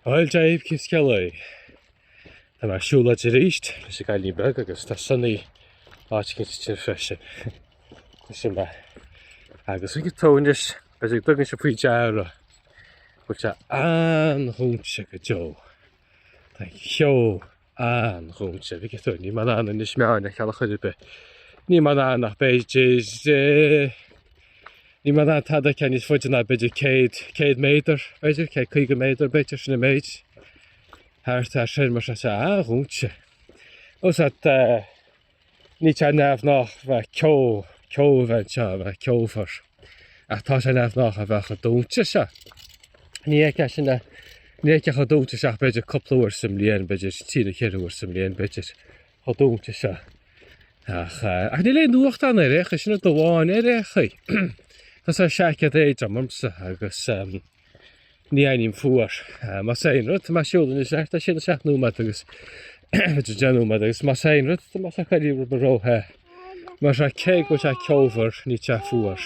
Bhuel, Dave, cén scéal é? Tá mé ag siúlóid arís leis an gcailín beag agus tá Sonny áit eicínt ansin freisin. Tá, sin é. Agus ag tónis b'fhéidir go dtugann sibh faoi deara go bhfuil sé an-dhúinte go deo. Tá ceo an-dhúinte, dtuigeann tú, níl mé in ann Inis Meáin a fheiceáil ar chor ar bith. Níl mé in ann ach b'fhéidir eh, níl mé in ann tada a fheiceáil níos faide ná b'fhéidir 100, 100 méadar, b'fhéidir, 150 méadar b'fhéidir sin an méid thart ar sin mar sin. An-dhúinte. Ó sea eh, Níl sé neamhghnách a bheith ceo ceo a bheith anseo a bheith ceomhar ach tá sé neamhghnách a bheith chomh dúinte seo. Ní fheicfeá sin, ní fheicfeá chomh dúinte seo ach b'fhéidir cúpla uair sa mbliain b'fhéidir trí nó cheithre uair sa mbliain b'fhéidir chomh dúinte seo. Ach eh, ach níl aon fhuacht ann ar aon chaoi, sin rud amháin ar aon chaoi. Tá sé seaicéad éadrom ormsa agus eh, Ní airím fuar. Más aon rud, tá mé ag siúl anois le 6 nó 7 nóiméad agus, b'fhéidir 10 nóiméad agus más aon rud, tá mé ag éirí róthe. Mar sin cé go bhfuil sé ceomhar, níl sé fuar.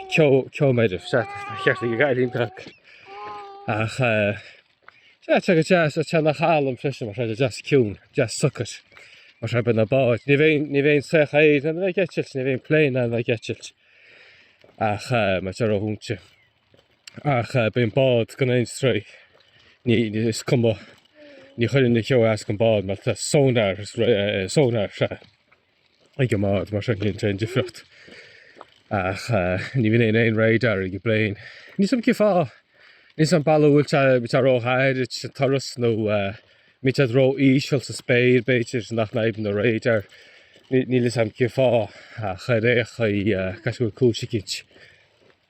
Ceo, ceomhar, sea, tá ceart ag an gcailín beag. Ach eh, sea, tá sé go deas, taitníonn sé liom freisin, mar tá sé deas ciúin, deas socair. Mar sin bíonn na báid, ní bheidh ní bheidh an soitheach aeir in ann a bheith ag eitilt, ní bheidh an plane in ann a bheith ag eitilt. Ach eh, mar tá sé ródhúinte. Ach bíonn bád gan aon stró. Ní is cuma. Ní chuireann an ceo as don bád mar tá sonar, sonar sea, ag an mbád mar sin níl aon difríocht. Ach ní bhíonn aon aon radar ag an bplane. Níl 'fhios a'm cén fáth. Níl 'fhios a'm ab amhlaidh a bhfuil sé, bíonn sé róghairid sa turas nó bíonn siad ró-íseal sa spéir b'fhéidir nach n-oibríonn an radar. Níl 'fhios a'm cén fáth ach ar aon chaoi, caithfidh go bhfuil cúis eicínt.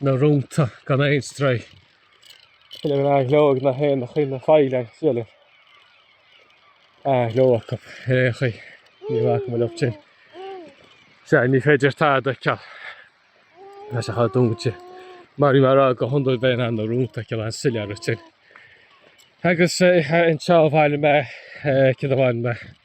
na rónta gan aon stró. Tá an-ghleo ag na héin, ag na faoileáin agus tá an-ghleo acu ar aon chaoi. Ní bhacfaidh mé leob sin. Sea, ní féidir tada a fheiceáil. Tá sé chomh dúnta. Mar bhí mé a rá go hiondúil bheinn in ann na rónta a fheiceáil an-soiléir ansin. Agus anseo bhailigh mé cinn amháin mé.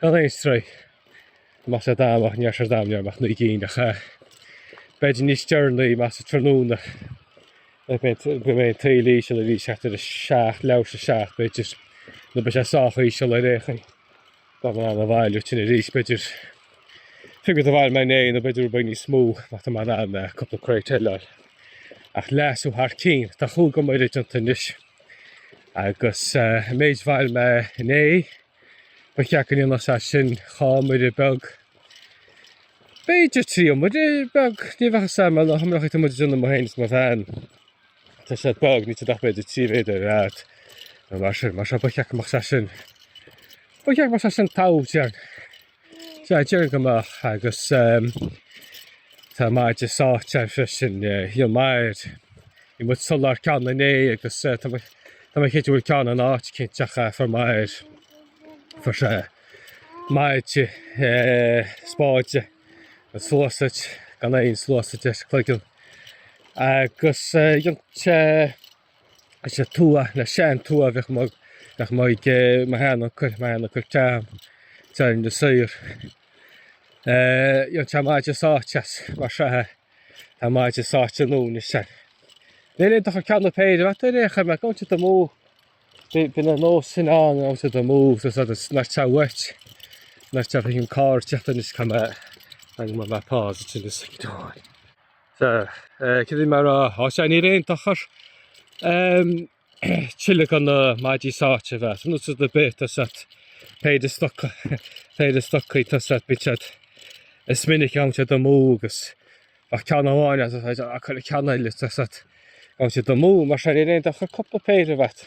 Gan aon stró, más ea dam, ach níor ardaigh mé liom ach naoi gcinn, ach b'fhéidir níos deireanaí, amach sa tráthnóna a bheidh an taoille íseal arís thart ar a seacht, leathuair tar éis a seacht b'fhéidir, nó beidh sé sách íseal ar aon chaoi. Ba mhaith liom a bhailiú tuilleadh arís, b'fhéidir oiread a bhailigh mé inné, nó b'fhéidir beagán níos mó má tá mé in ann a cúpla crate eile a fháil. Ach leasú thar cinn, tá cuid mhaith déanta anois, agus an méid a bhailigh mé inné, Ba cheart go ndéanfadh sé sin dhá iomaire beag, b'fhéidir trí iomaire beag. Ní bheadh sé mar na hiomaireacha atá muid ag déanamh mé fhéin is mo bhean. Tá siad beag, níl iontu ach b'fhéidir trí mhéadar ar fhad nó mar sin. Mar sin ba cheart go mbeadh sé sin. Ba cheart go mbeadh sé sin togha tighearna. Sea, déarfainn go mbeadh agus ehm, tá maide sáite freisin, eh, níl maith air. Bhí muid ag soláthar ceann inné agus eh, tá muid tá muid chéad bhfuil ceann in áit eicínt ach eh, fuair muid. Fuair eh, maide eh, spáide nó sluasaid gan aon sluasaid ar a chloigeann. Agus eh, dhein sé leis an tua an sean-tua a bhíodh mo bheadh mo ag mo shean-uncail, mo shean-uncail Cam, teaghlaigh na saor. Dhein sé maide sáite as mar seo é. Tá maide sáite ann anois is ea. Níl aon dochar ceann nó péire a bheith agat ar aon chaoi mar ag dul amú. Bhí bhí an nós sin ann ag dul amú so so that's not so much. Not so bhí an carr teastáil anois char me I'm on my paws it's in the sink door. Sea, cad é mar a sháith níl aon dochar ehm tuilleadh de na maidí sáite a bheith agat. Nós rud ar bith tá siad péire stocaí péire stocaí tá siad bíonn siad is minic ag dul amú agus ach ceann amháin as a a chuile ceann eile tá siad ag dul amú mar sin níl aon dochar cúpla péire a bheith agat.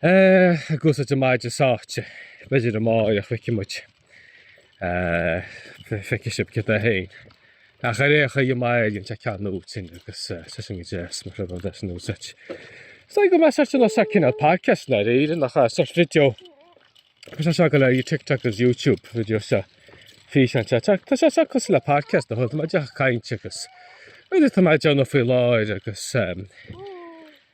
Eh, a gcuasa de maide sáite. B'fhéidir amárach feicfidh muid. Eh, feicfidh sibh cad é féin. Ach ar aon chaoi, má éiríonn sé ceann úd sin agus eh, seisean go deo is mo threibh an bheith san úsáid. Is dóigh go mbeadh seisean an sa cineál podcast ná ar éireann nach ea, sort video. Tá sé seo go léir TikTok agus YouTube, video seo. Físeán é. Tá tá sé seo cosúil le podcast a thug muid ag caint agus. Bhfuil tá muid a dhéanamh faoi láthair agus eh,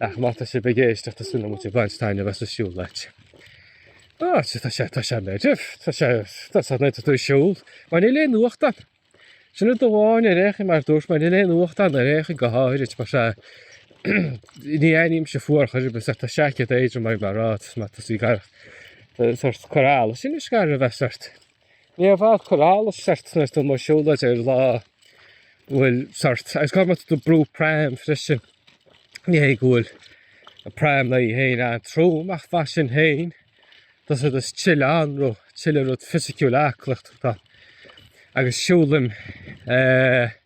Ach má tá sibh ag éisteacht is minic muid ag baint taitneamh as an siúlóid. Á, tá sé, tá sé meirbh, tá sé, tá sé nuair atá tú ag siúl. Mar níl aon fhuacht ann. Sin rud amháin ar aon chaoi mar dúirt mé, níl aon fhuacht ann ar aon chaoi go háirid mar sin, ní airímse fuar chor ar bith, tá seaicéad éadrom agam le rá, tá sí gar do sórt cur allais, sin is gar a bheith sórt. Níor mhaith cur allais sórt nuair atá tú amuigh ag siúlóid ar lá bhfuil sórt. Agus má tá tú ag brú pram freisin. Ní hé go bhfuil an pram ann féin an-trom ach mar sin féin tá's agat is tuilleadh anró tuilleadh rud fisiciúil aclaíochta. Agus siúlaim eh.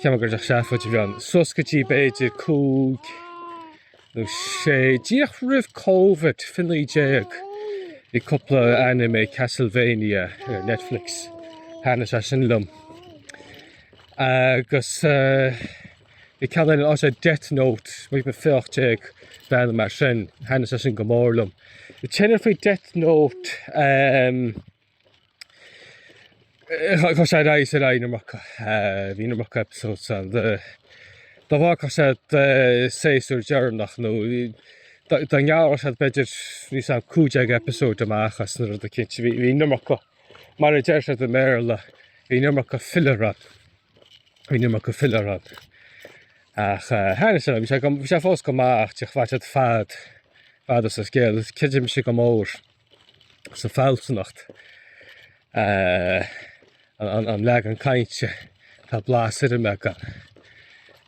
Cheapaim gur seafóid a bhí ann. Sos go dtí b'fhéidir cúig nó sé. Díreach roimh Covid, fiche naoi déag, bhí cúpla anime, Castlevania ar Netflix, thaitnigh sé sin liom. Agus bhí ceann eile ann sé Death Note, bhí mé fiche ocht déag, bliain mar sin, thaitnigh sé sin go mór liom. An t-aon ní faoi Death Note. Chuaigh sé ar aghaidh is ar aghaidh an iomarca. Bhí an iomarca episodes ann de dá bhfágfadh siad an séasúr deireanach nó dá ngearrfadh siad b'fhéidir níl a fhios agam 15 episode amach as nó rud éicint. Bhí bhí an iomarca mar a deir siad i mBéarla bhí an iomarca filler ann. Bhí an iomarca filler ann. Ach eh, thaitnigh sé liom. Bhí sé go- bhí sé fós go maith ach de bhain siad fad fad as an scéal. Is creidim mise go mór. sa bhfealsúnacht an leagan cainte tá blas ar an mbeagán.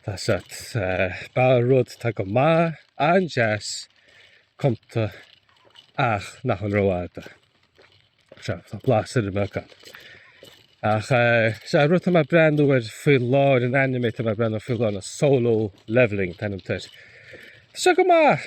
Tá a fhios agat ba rud atá go maith an-deas cumtha ach nach an rófhada. Sea, tá blas ar an mbeagán. Ach sea, rud atá mé ag breathnú air faoi láthair an anime atá mé ag breathnú faoi láthair ná Solo Leveling an t-ainm atá air. Tá sé go maith.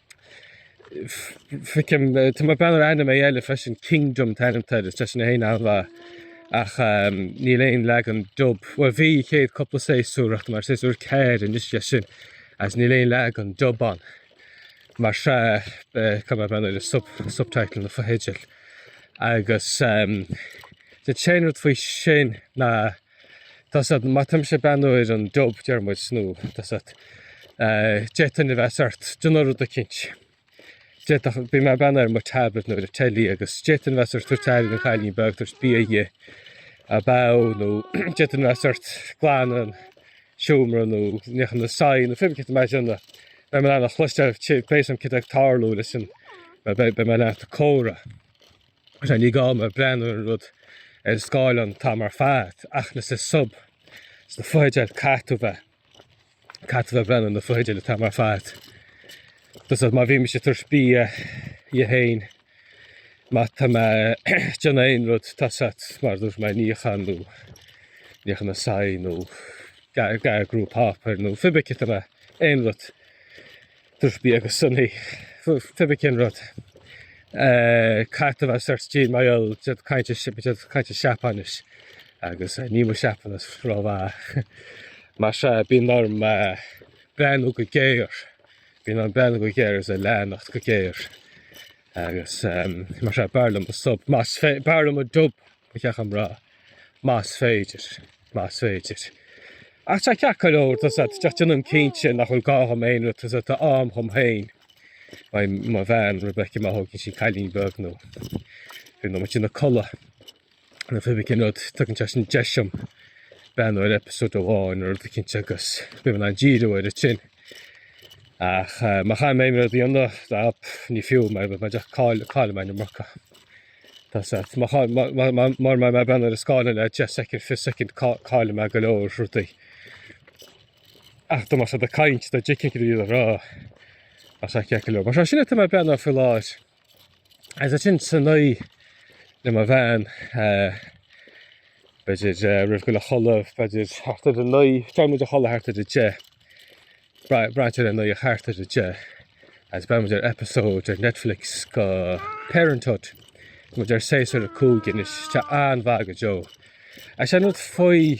Feicim tá mé ag breathnú ar anime eile freisin Kingdom an t-ainm atá air is tá sé sin féin an-mhaith ach ehm, níl aon leagan dub bhuel bhí chéad cúpla séasúr ach tá mé ar séasúr ceathair anois de sin agus níl aon leagan dub ann mar sin eh, caithfidh mé breathnú ar an sub, subtitle na fotheidil agus ehm, an t-aon rud faoi sin ná Tosat mataimse bean uair an job deir muid nó tosat deich duine a bheas ort dna rud a cinnt. D'fhéadfadh bhí mé bean ar mo tablet nó ar a teilí agus deich duine a bheas ort tabhairt teairín an chailín beag tabhairt bia dhe a beadh nó deich duine a bheas ort glan an seomra nó neach an saigh nó fimicint mar sin a bheith mé lean a chloisteáil pléasam cid ag tarlú leis an bheith mé lean comhrá. Sea, ní gá mé breathnú ar an rud ar an scáileán an t-am ar fad, ach insa sub, sna fotheidil, caithfidh tú bheith, caithfidh tú bheith ag breathnú ar na fotheidil an t-am ar fad. Tá a fhios agat, má bhímse ag tabhairt bia dhi féin, má tá mé ag déanamh aon rud, tá a fhios agat, mar a dúirt mé, níochán nó níochán na soithí nó garglú páipéir nó pé ar bith céard atá mé, aon rud. Tabhairt bia do Sonny pé ar bith cén rud. Caithfidh tú a bheith sórt de mar gheall tá siad ag caint tá siad ag caint Seapáinis agus níl mo Sheapáinis ró-mhaith. Mar sin bíonn orm breathnú go géar, bíonn orm breathnú go géar is a leanacht go géar agus mar sin b'fhearr liom an sub más fé- b'fhearr liom an dub ba cheart dom a rá más féidir. más féidir. Ach tá ceart go leor, tá's agat, ach déanamh cinnte nach bhfuil gá dhom aon rud, tá's agat, tá am dhom féin, beidh mo bhean Rebecca, má thógann sí an cailín beag nó rud nó má tá sí ina codladh nó pé bith cén rud, tugann sé sin deis dhom breathnú ar eipeasóid amháin nó rud éicint agus bím in ann díriú air sin. Ach má chaithfidh mé aon rud a dhéanamh, dá, pff, ní fiú, mar ba mbeidh deacair caill, caillim an iomarca. Tá's agat. Má chá, má, má, má, mara bhfuil mé ag breathnú ar an scáileán le deich soicind, fiche soicind, ca, cailleann mé go leor rudaí. Ach dá mbeadh siad ag caint, dá dtuigfinn céard a bhíodar a rá. Ach tá sé ceart go leor. Mar sin é tá mé ag breathnú air faoi láthair. Agus ansin san oíche le mo bhean, eh, b'fhéidir, eh, roimh dhul a chodladh, b'fhéidir thart ar a naoi, téann muid a chodladh thart ar a deich. Bra- Braitheann sé ar an oíche thart ar a deich agus breathnaíonn muid ar episode ar Netflix de Parenthood. Muid ar séasúr a cúig anois, tá an-mhaith go deo. Is é an rud faoi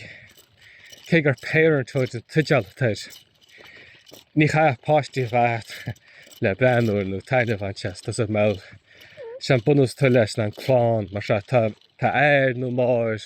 cé gur Parenthood an teideal atá air, ní chaithfidh páistí a bheith agat le breathnú air nó taitneamh a bhaint as, tá's agat, bhuel. Is é an bunús atá leis ná an clann, mar seo tá, tá athair nó máthair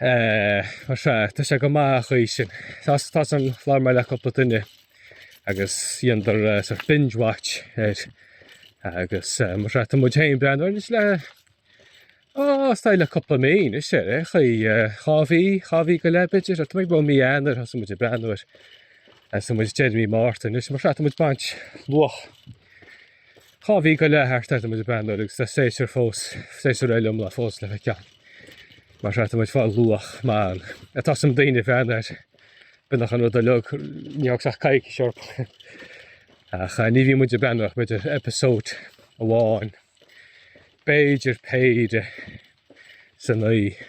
Eh, mar sea, tá sé go maith ar an gcaoi sin. Tá, tá's agam labhair mé le cúpla duine agus dhéanadar eh, sort of binge watch air agus eh, mar sea, tá muid féin ag breathnú air anois le ó, is dóigh le cúpla mí anois ar aon chaoi eh, dhá mhí, dhá mhí go leith b'fhéidir, tá muid ó mhí Eanáir thosaigh muid ag breathnú air eh, tá muid deireadh mí Márta anois mar sea, tá muid baint luach Dhá mhí go leith thart atá muid ag breathnú air agus tá séasúr fós, séasúr eile iomlán fós le feiceáil. Mar sin tá muid ag fáil luach maith ann. Tá's agam daoine a bhreathnaigh air. B'ionach an rud uilig, ní fhág sách coicís, sort. Ach ní bhíonn muid ag breathnú ach b'fhéidir episóid amháin, b'fhéidir péire san oíche.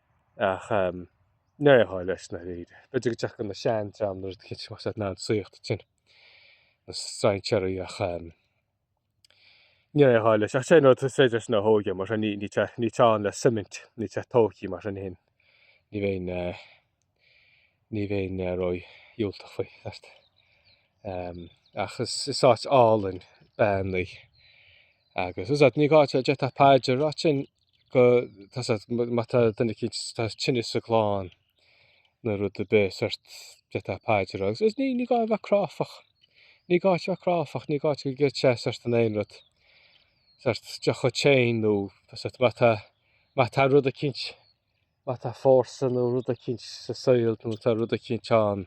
Ach ní raibh aon chaill leis ná léir. B'fhéidir go dtiocfadh na sean-dream nó rud cinnte más ea ná an saíocht sin, na strainséaraí ach ní raibh aon chaill leis. Ach sé an rud, is féidir leis na a thóigim, mar sin ní teann le suimint, ní teann tóigthe mar sin fhéin, ní bheinn. Ní bheinn ró dhiúltach faoi, sort. Ach is áit álainn Beann í. Agus is áit, ní gá, d'fhéadfá paidir a rá ansin go, tá sort, má tá duine eicínt, tá tinneas sa gclann nó rud ar bith, sort, d'fhéadfá paidir a rá. Agus ní gá a bheith cráifeach. Ní gá a bheith cráifeach, ní gá go gcreidfeá sort in aon rud. Sort, deoch fhéin nó, sort, má tá, má tá rud eicínt. Má tá fórsa nó rud eicínt sa saol nó tá rud eicínt ann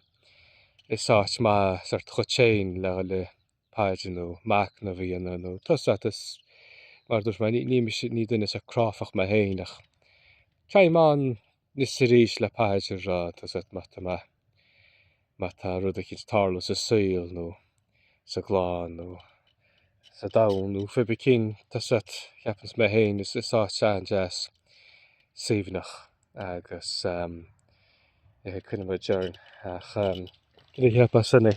is áit maith sórt dhuit féin le haghaidh paidir nó machnamh a dhéanamh nó tá's a'd is mar dúirt mé ní mise, ní duine sách cráifeach mé féin ach téim ann 'nois 's arís le paidir a rá, tá's a'd, má tá, má. Má tá rud eicint tarlaithe sa saol nó sa gclann nó sa domhan nó pé ar bith cén, tá's a'd, ceapann's mé féin, is áit an-deas, suaimhneach agus coinneoidh muid orainn. Ach céard a cheapann sibhse?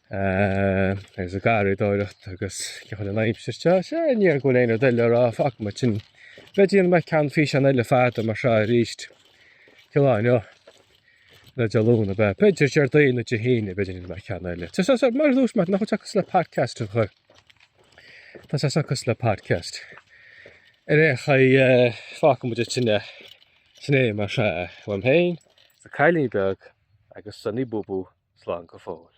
Agus an gharraíodóireacht agus cén chaoi an aimsir seo. Sea, ní dóigh go bhfuil aon rud eile a rá fágfaidh mar sin é. B'fhéidir go mbeidh ceann físeán eile fada mar seo arís Dé hAoine nó Dé Luain b'fhéidir. B'fhéidir Déardaoin nó Dé hAoine b'fhéidir go mbeidh ceann eile. Sea, sea, mar dhuais mar nach bhfuil seachas le podcast an chur. Tá sé seachas le podcast. Ar aon chaoi eh, fágfaidh muid ag sin eh, sin é mar seo eh, uaim féin, 's an cailín beag agus Sunny Boo Boo slán go fóill.